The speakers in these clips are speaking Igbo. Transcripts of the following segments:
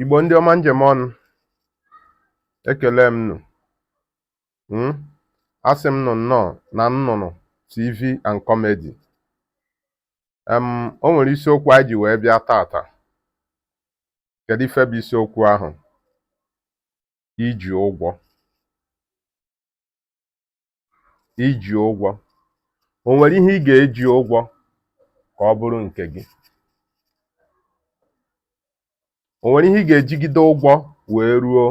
Igbo ndị ọma m ji eme ọnụ ekele m nụ hmm? asị m nụ nnọọ na nnụnụ TV and comedy o nwere isiokwu anyị ji wee bịa taata kedu ife bụ isiokwu ahụ iji ụgwọ iji ụgwọ? O nwere ihe ị ga-eji ụgwọ ka ọ bụrụ nke gị? O nwere ihe ị ga-ejigide ụgwọ wee ruo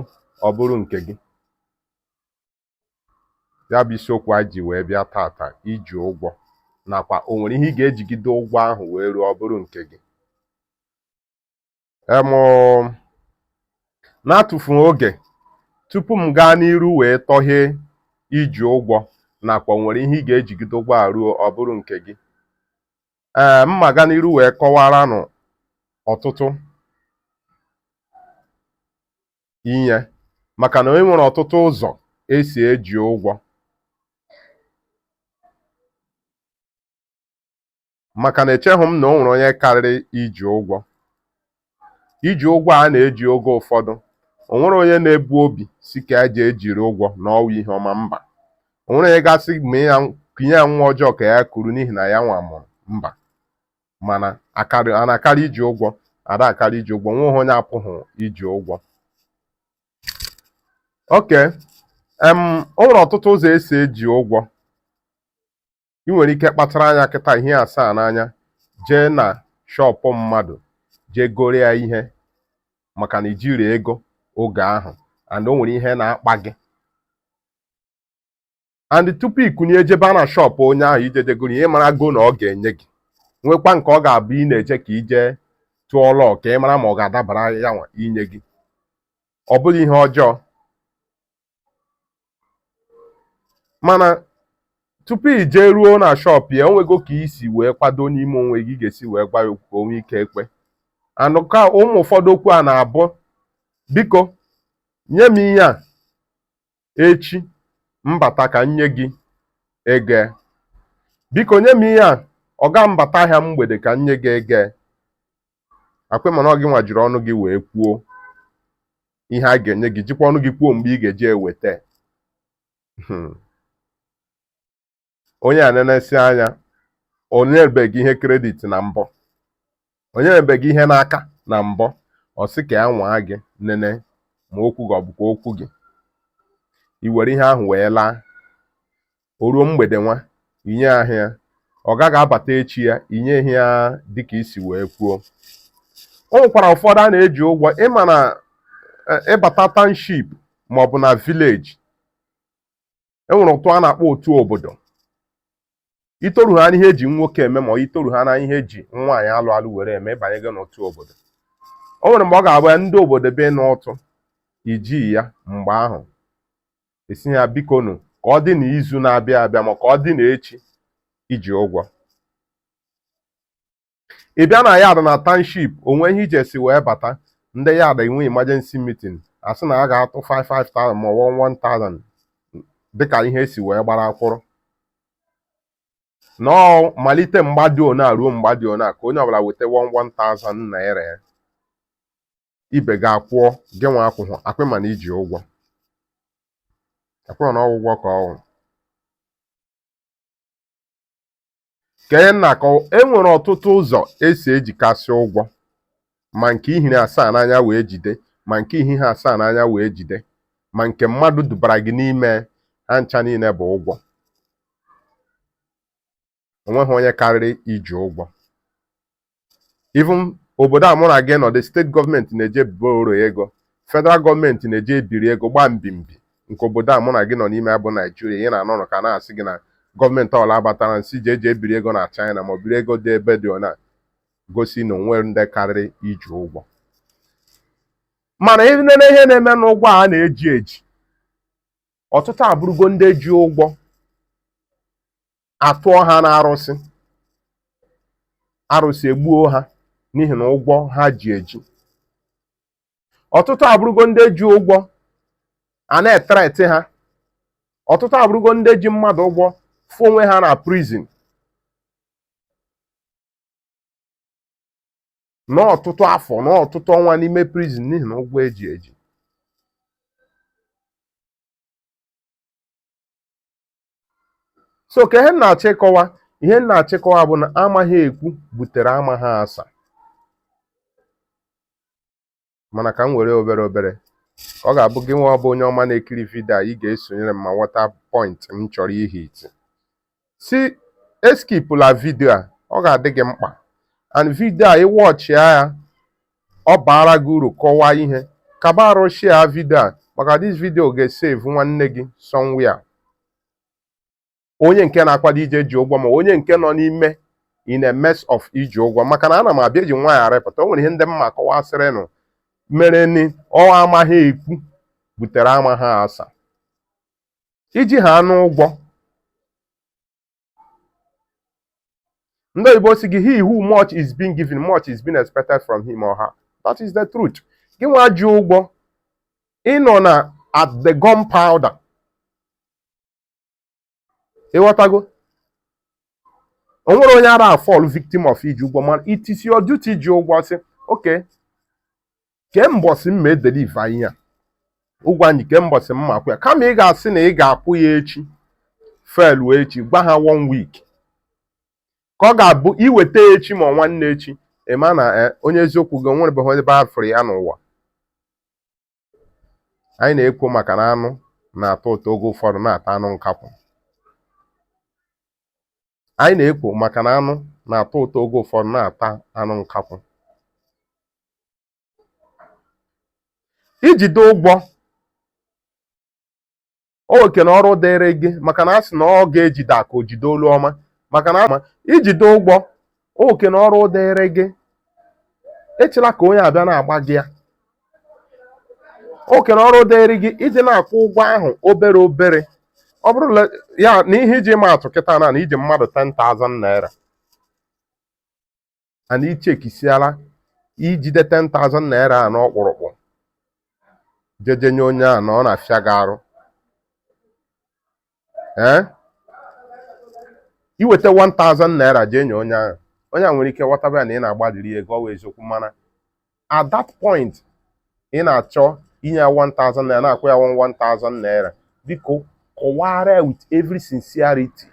ọ bụrụ nke gị? Ya bụ isiokwu anyị ji wee bịa taata iji ụgwọ nakwa o nwere ihe ị ga-ejigide ụgwọ ahụ wee ruo ọ bụrụ nke gị? na-atụfughị oge tupu m gaa n'iru wee tọghe iji ụgwọ nakwa o nwere ihe ị ga-ejigide ụgwọ a ruo ọ bụrụ nke gị ee mma gaa n'iru wee kọwaranụ ọtụtụ ihe maka na e nwere ọtụtụ ụzọ e si eji ụgwọ maka na echeghị m na o nwere onye karịrị iji ụgwọ iji ụgwọ a na-eji oge ụfọdụ o nwere onye na-ebu obi sị ka ya jee jiri ụgwọ na ọ wụ ihe ọma mba o nwere onye ga-asị m kunye ya nwa ọjọọ ka ya kuru n'ihi na ya nwa mụrụ mba mana a na-akarị iji ụgwọ ada akarị iji ụgwọ nweghị onye apụghị iji ụgwọ okay em o nwere ọtụtụ ụzọ e si eji ụgwọ ị nwere ike kpachara anya kịta ihe asaa n'anya jee na shọpụ mmadụ jee goro ya ihe maka na i jirọ ego oge ahụ and o nwere ihe na-akpa gị and tupu i kunie jebe na shọpụ onye ahụ ije jee goro ihe ị marago na ọ ga-enye gị nwekwa nke ọ ga-abụ ị na-eje ka i jee tụọ luck ka ị mara ma ọ ga-adabara ya nwa inye gị ọ bụghị ihe ọjọọ mana tupu i jee ruo na shop ya o nwego ka i si wee kwado n'ime onwe gị ga-esi wee gwa ya okwu ka o nwee ike kwe and ka ụmụ ụfọdụ okwu a na-abụ biko nye m ihe a echi m bata ka m nye gị ego biko nye m ihe a ọga m bata ahịa mgbede ka m nye gị ego akwe mana ọ gị nwa jiri ọnụ gị wee kwuo ihe a ga-enye gị jikwa ọnụ gị kwuo mgbe ị ga-eji eweta hmm. onye a nenesie anya o nyebeghị ihe credit na mbụ o nyebeghị ihe n'aka na mbụ ọ sị ka ya nwaa gị nene ma okwu gị ọ bụkwa okwu gị i were ihe ahụ wee laa o ruo mgbede nwa inye ahịa ọ gaghị abata echi ya inye ihe ya dịka isi wee kwuo o nwekwara ụfọdụ a na-eji ụgwọ ịma na e, ịbata township maọbụ na village enwere ụtụ a na-akpọ otu obodo itoru ha n'ihe eji nwoke eme ma itoru ha na ihe eji nwaanyị alụ alụ were eme ịbanye gị n'otu obodo o nwere mgbe ọ ga-abụ ya ndị obodo be n'ụtụ iji ya mgbe ahụ asị ya bikonu ka ọ dị na izu na-abịa abịa ma ka ọ dị na echi iji ụgwọ ị bịa na yard na township onwe ihe ije si wee bata ndị yard enwe emergency meeting asị na a ga-atụ 5 500 ma ọ 1,000 dịka ihe esi wee gbara kwụrụ na malite mgbe dị ona ruo mgbe dị ona ka onye ọbụla weta 1,000 naira ya ibe gị akwụọ gị nwa akwụghọ akwa ịma na iji ụgwọ akwa ịma na ọwụ ụgwọ ka ọwụ ka ihe m na-akọwa e nwere ọtụtụ ụzọ esi ejikasị ụgwọ ma nke ihiri asaa n'anya wee jide ma nke ihighị asaa n'anya wee jide ma nke mmadụ dubara gị n'ime ha ncha niile bụ ụgwọ onweghị onye karịrị iji ụgwọ even obodo a mụ na gị nọdụ steeti gọọmenti na-eje borrow ego federal gọọmenti na-eje ebiri ego gbaa mbimbi nke obodo a mụ na gị nọ n'ime ya bụ naijiria ị na-anụrụ ka a na-asị gị na gọọmenti ọla abatara n'isi je eje ebiri ego na china ma ọ biri ego dị ebe dị ona gosi na onwe ndị karịrị iji ụgwọ mana ịnene ihe na-eme n'ụgwọ a na-eji eji ọtụtụ abụrụgo ndị ji ụgwọ atụọ ha n'arụsị arụsị egbuo ha n'ihi na ụgwọ ha ji eji ọtụtụ abụrụgo ndị ji ụgwọ a na-ethreat ha ọtụtụ abụrụgo ndị ji mmadụ ụgwọ fụ onwe ha na prison n'ọtụtụ afọ n'ọtụtụ ọnwa n'ime prison n'ihi na ụgwọ eji eji so ka ihe m na-achọ ịkọwa ihe m na-achọ ịkọwa bụ na amaghị ekwu butere amaghị asa mana ka m were obere obere ọ ga-abụ gị nwa ọbụ onye ọma na-ekiri vidio a ị ga-esonyere m ma ghọta point m chọrọ ihit si eskipụla vidio a ọ ga-adị gị mkpa and vidio a ị watchịa ya ọ baara gị uru kọwaa ihe kaba arụ share vidio a maka this vidio ga-esave nwanne gị somewhere onye nke na-akwado ije ji ụgwọ ma onye nke nọ n'ime in a mess of iji ụgwọ maka na ana m abịa eji nwaanyị arịpụta o nwere ihe ndị m ma kọwasịrịnụ mere ni ọ amaghị ekwu butere amaghị asa i ji hanụ ụgwọ ndị oyibo sị gị he who much is being given much is being expected from him or her that is the truth gịnwa ji ụgwọ ị nọ na at the gun powder ị ghọtago o nwere onye ara afall victim of iji ụgwọ mana it is your duty ji ụgwọ sị okay kee mbọsị m ma edeliva ihe a ụgwọ anyị kee mbọsị m ma akwụ ya kama ị ga-asị na ị ga-akwụ ya echi felu echi gwa ha one week ka ọ ga-abụ i weta echi ma nwanne echi a ma na eh, onye eziokwu gị o nwebeghị ebe a fụrụ ya n'ụwa anyị na-ekwu maka na anụ na-atọ ụtọ oge ụfọdụ na-ata anụ nkakwụ anyị na-ekwu maka na anụ na-atọ ụtọ oge ụfọdụ na-ata anụ nkakwụ i jide ụgwọ ọ oke na ọrụ dịrị gị maka na a sị na ọ ga-ejide aka o jide olu ọma maka na i jide ụgwọ ọ oke na ọrụ dịrị gị echela ka onye a bịa na-agba gị ya oke na ọrụ dịrị gị iji na-akwụ ụgwọ ahụ obere obere ọ bụrụ ya na ihe iji ma atụ kịta na i ji mmadụ 10,000 naira a na ị chekisiala ijide 10,000 naira a n'ọkpụrụkpụ jeje nye onye a na ọ na-afịa gị arụ ee i weta 1000 naira jee nye onye ahụ onye a nwere ike ghọtaba ya na ị na-agbalịrị ego ọ wụ eziokwu mana at that point ị na-achọ inye ya 1000 naira na-akwụ ya 1000 naira biko kọwara ya with every sincerity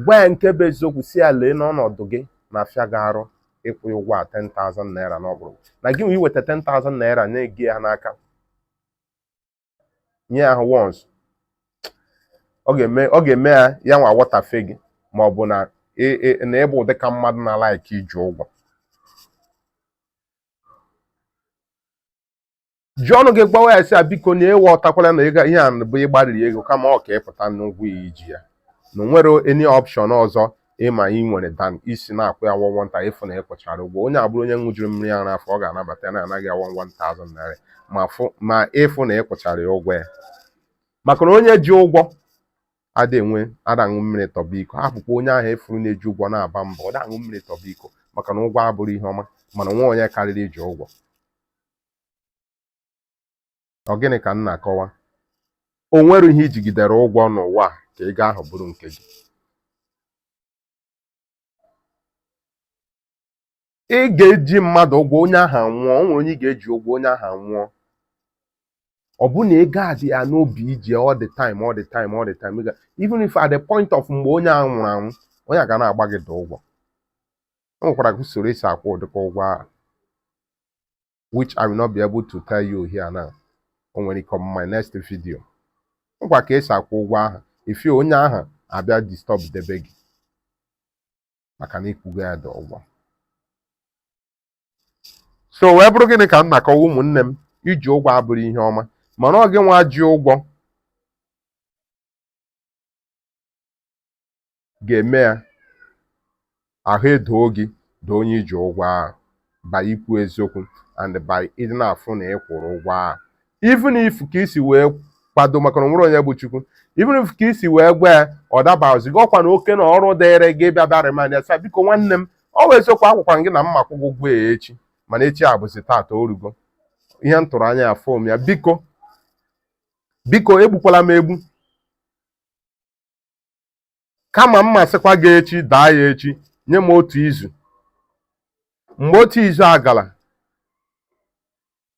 gwa ya nke bụ eziokwu sị ya lee n'ọnọdụ gị na-afịa gị arụ ịkwụ ụgwọ a 10,000 naira n'ọ bụrụ na gị nwee iweta 10,000 naira nye ya n'aka onye ahụ once ọ ọ ga-eme ya yanwa wọtafe gị ma ọ bụ na ị- ị- na ị bụ dịka mmadụ na-alaiki iji ụgwọ ji ọnụ gị gwawa ya sị ya biko na ya awọtakwala na ihe a bụ ịgbalịrị ego kama ọ ka ị pụta n'ụgwọ a i ji ya na o nwere any option ọzọ ịma ị nwere dan isi na-akwụ ya 1,000 ịfụ na ị kwụchara ụgwọ onye a bụrụ onye ṅụjuru mmiri ara afọ ọ ga-anabata ya na-ana gị ya 1,000 naira ma fụ ma ịfụ na ị kwụchara ya ụgwọ ya maka na onye ji ụgwọ ada enwe ada aṅụ mmiri tọba iko hapụkwa onye ahụ ị fụrụ na-eji ụgwọ na-aba mba ọ da aṅụ mmiri tọba iko maka na ụgwọ abụrọ ihe ọma mana o nwero onye karịrị iji ụgwọ Ọ gịnị ka m na-akọwa? O nwere ihe i jigidere ụgwọ n'ụwa a ka ego ahụ bụrụ nke gị. Ị ga-eji mmadụ ụgwọ onye ahụ anwụọ, o nwere onye ị ga-eji ụgwọ onye ahụ anwụọ. Ọ bụrụ na ego a dị ya n'obi i ji all the time all the time all the time even if at the point of mgbe onye a nwụrụ anwụ onye a ga na-agba gị the ụgwọ. O nwekwara usoro esi akwụ ụdịka ụgwọ ahụ. which I will not be able to tell you here now o nwere ike on my next video m kọwaa ka esi akwụ ụgwọ ahụ ị fụ onye ahụ abịa disturb debe gị maka na ị kwụgo ya the ụgwọ so wee bụrụ gịnị ka m na-akọwa ụmụnne m iji ụgwọ abụrọ ihe ọma mana ọ gị nwa ji ụgwọ ga-eme ya ahụ edoo gị doo onye i ji ụgwọ ahụ by ikwu eziokwu and by ịdị na-afụ na ị kwụrụ ụgwọ ahụ even if ka isi wee kwado maka na o nwero onye bụ Chukwu even if ka isi wee gwa ya ọ dabazighị ọkwa na oke na ọrụ dịrị gị bịa bịa remind ya sị biko nwanne m ọ wụ eziokwu agwakwa m gị na m ma-akwụ gị ụgwọ a echi mana echi a bụzi taata orugo ihe m tụrụ anya ya afụrọ m ya biko biko egbukwala m egbu kama m ma-asịkwa gị echi daa ya echi nye m otu izu mgbe otu izu agala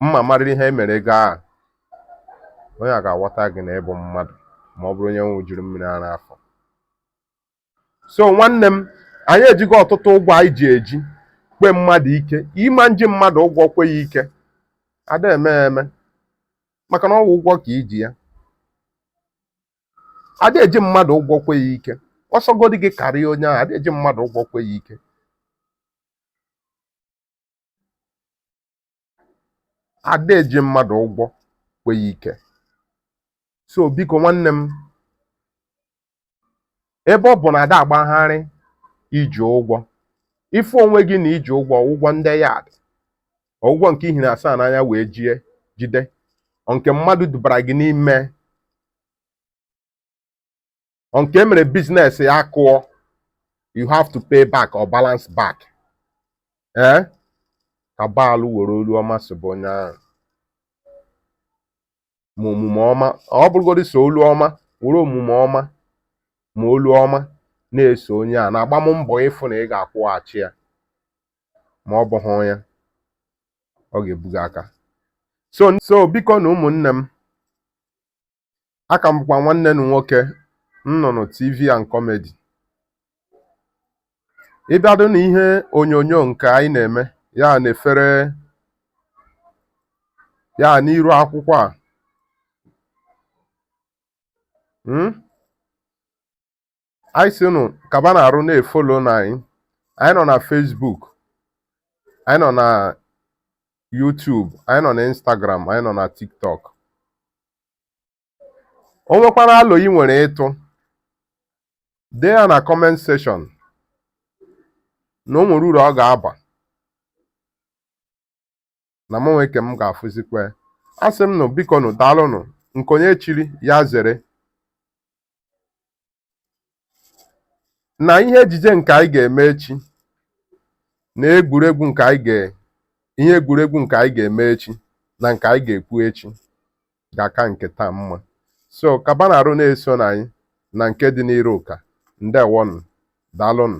m ma-amarịrị ihe emere ego a onye a ga-aghọta gị na ị bụ mmadụ ma ọ bụrụ onye ṅụjuru mmiri ara afọ so nwanne m anyị ejigo ọtụtụ ụgwọ anyị ji eji kwe mmadụ ike ị ma na iji mmadụ ụgwọ kwe ya ike ada eme eme maka na ọ wụ ụgwọ ka i ji ya ada eji mmadụ ụgwọ kwe ya ike ọsọgodi gị karịa onye ahụ ada eji mmadụ ụgwọ kwe ya ike ada eji mmadụ ụgwọ kwe ya ike so biko nwanne m ebe ọ bụ na ada agbagharị iji ụgwọ ị fụ onwe gị na i ji ụgwọ ọ wụ ụgwọ ndị yard ọ wụ ụgwọ nke i hiri asaa n'anya wee jie jide nke mmadụ dubara gị n'ime nke e mere business ya akụọ you have to pay back or balance back ee eh? ka baalụ were olu ọma sobe onye ahụ ma omume ọma ọ bụrụgodị sọ olu ọma were omume ọma ma olu ọma na-eso onye a na-agba m mbọ ịfụ na ị ga-akwụghachi ya ma ọ bụghị ya ọ ga-ebuga aka so biko nụ ụmụnne m aka m bụkwa nwanne nụ nwoke nnụnụ tv and comedy ị bịado na ihe onyonyo nke anyị na-eme ya na-efere ya n'iru akwụkwọ a hmm? anyị sị nụ kaba nụ arụ na-efolo nụ anyị anyị nọ na Facebook anyị nọ na YouTube anyị nọ na Instagram anyị nọ na TikTok o nwekwara alo i nwere ịtụ dee ya na comment section na o nwere uru ọ ga-aba na mụ nwe ke m ga-afụzikwa asị m nụ biko nụ daalụnụ nke onye chiri ya zere na ihe ejije nke anyị ga-eme echi na egwuregwu na ihe egwuregwu nke anyị ga-eme echi na nke anyị ga-ekwu echi ga-aka nke taa mma so kaba nụ arụ na-eso nụ anyị na nke dị n'iru ka ndewonụ daalụnụ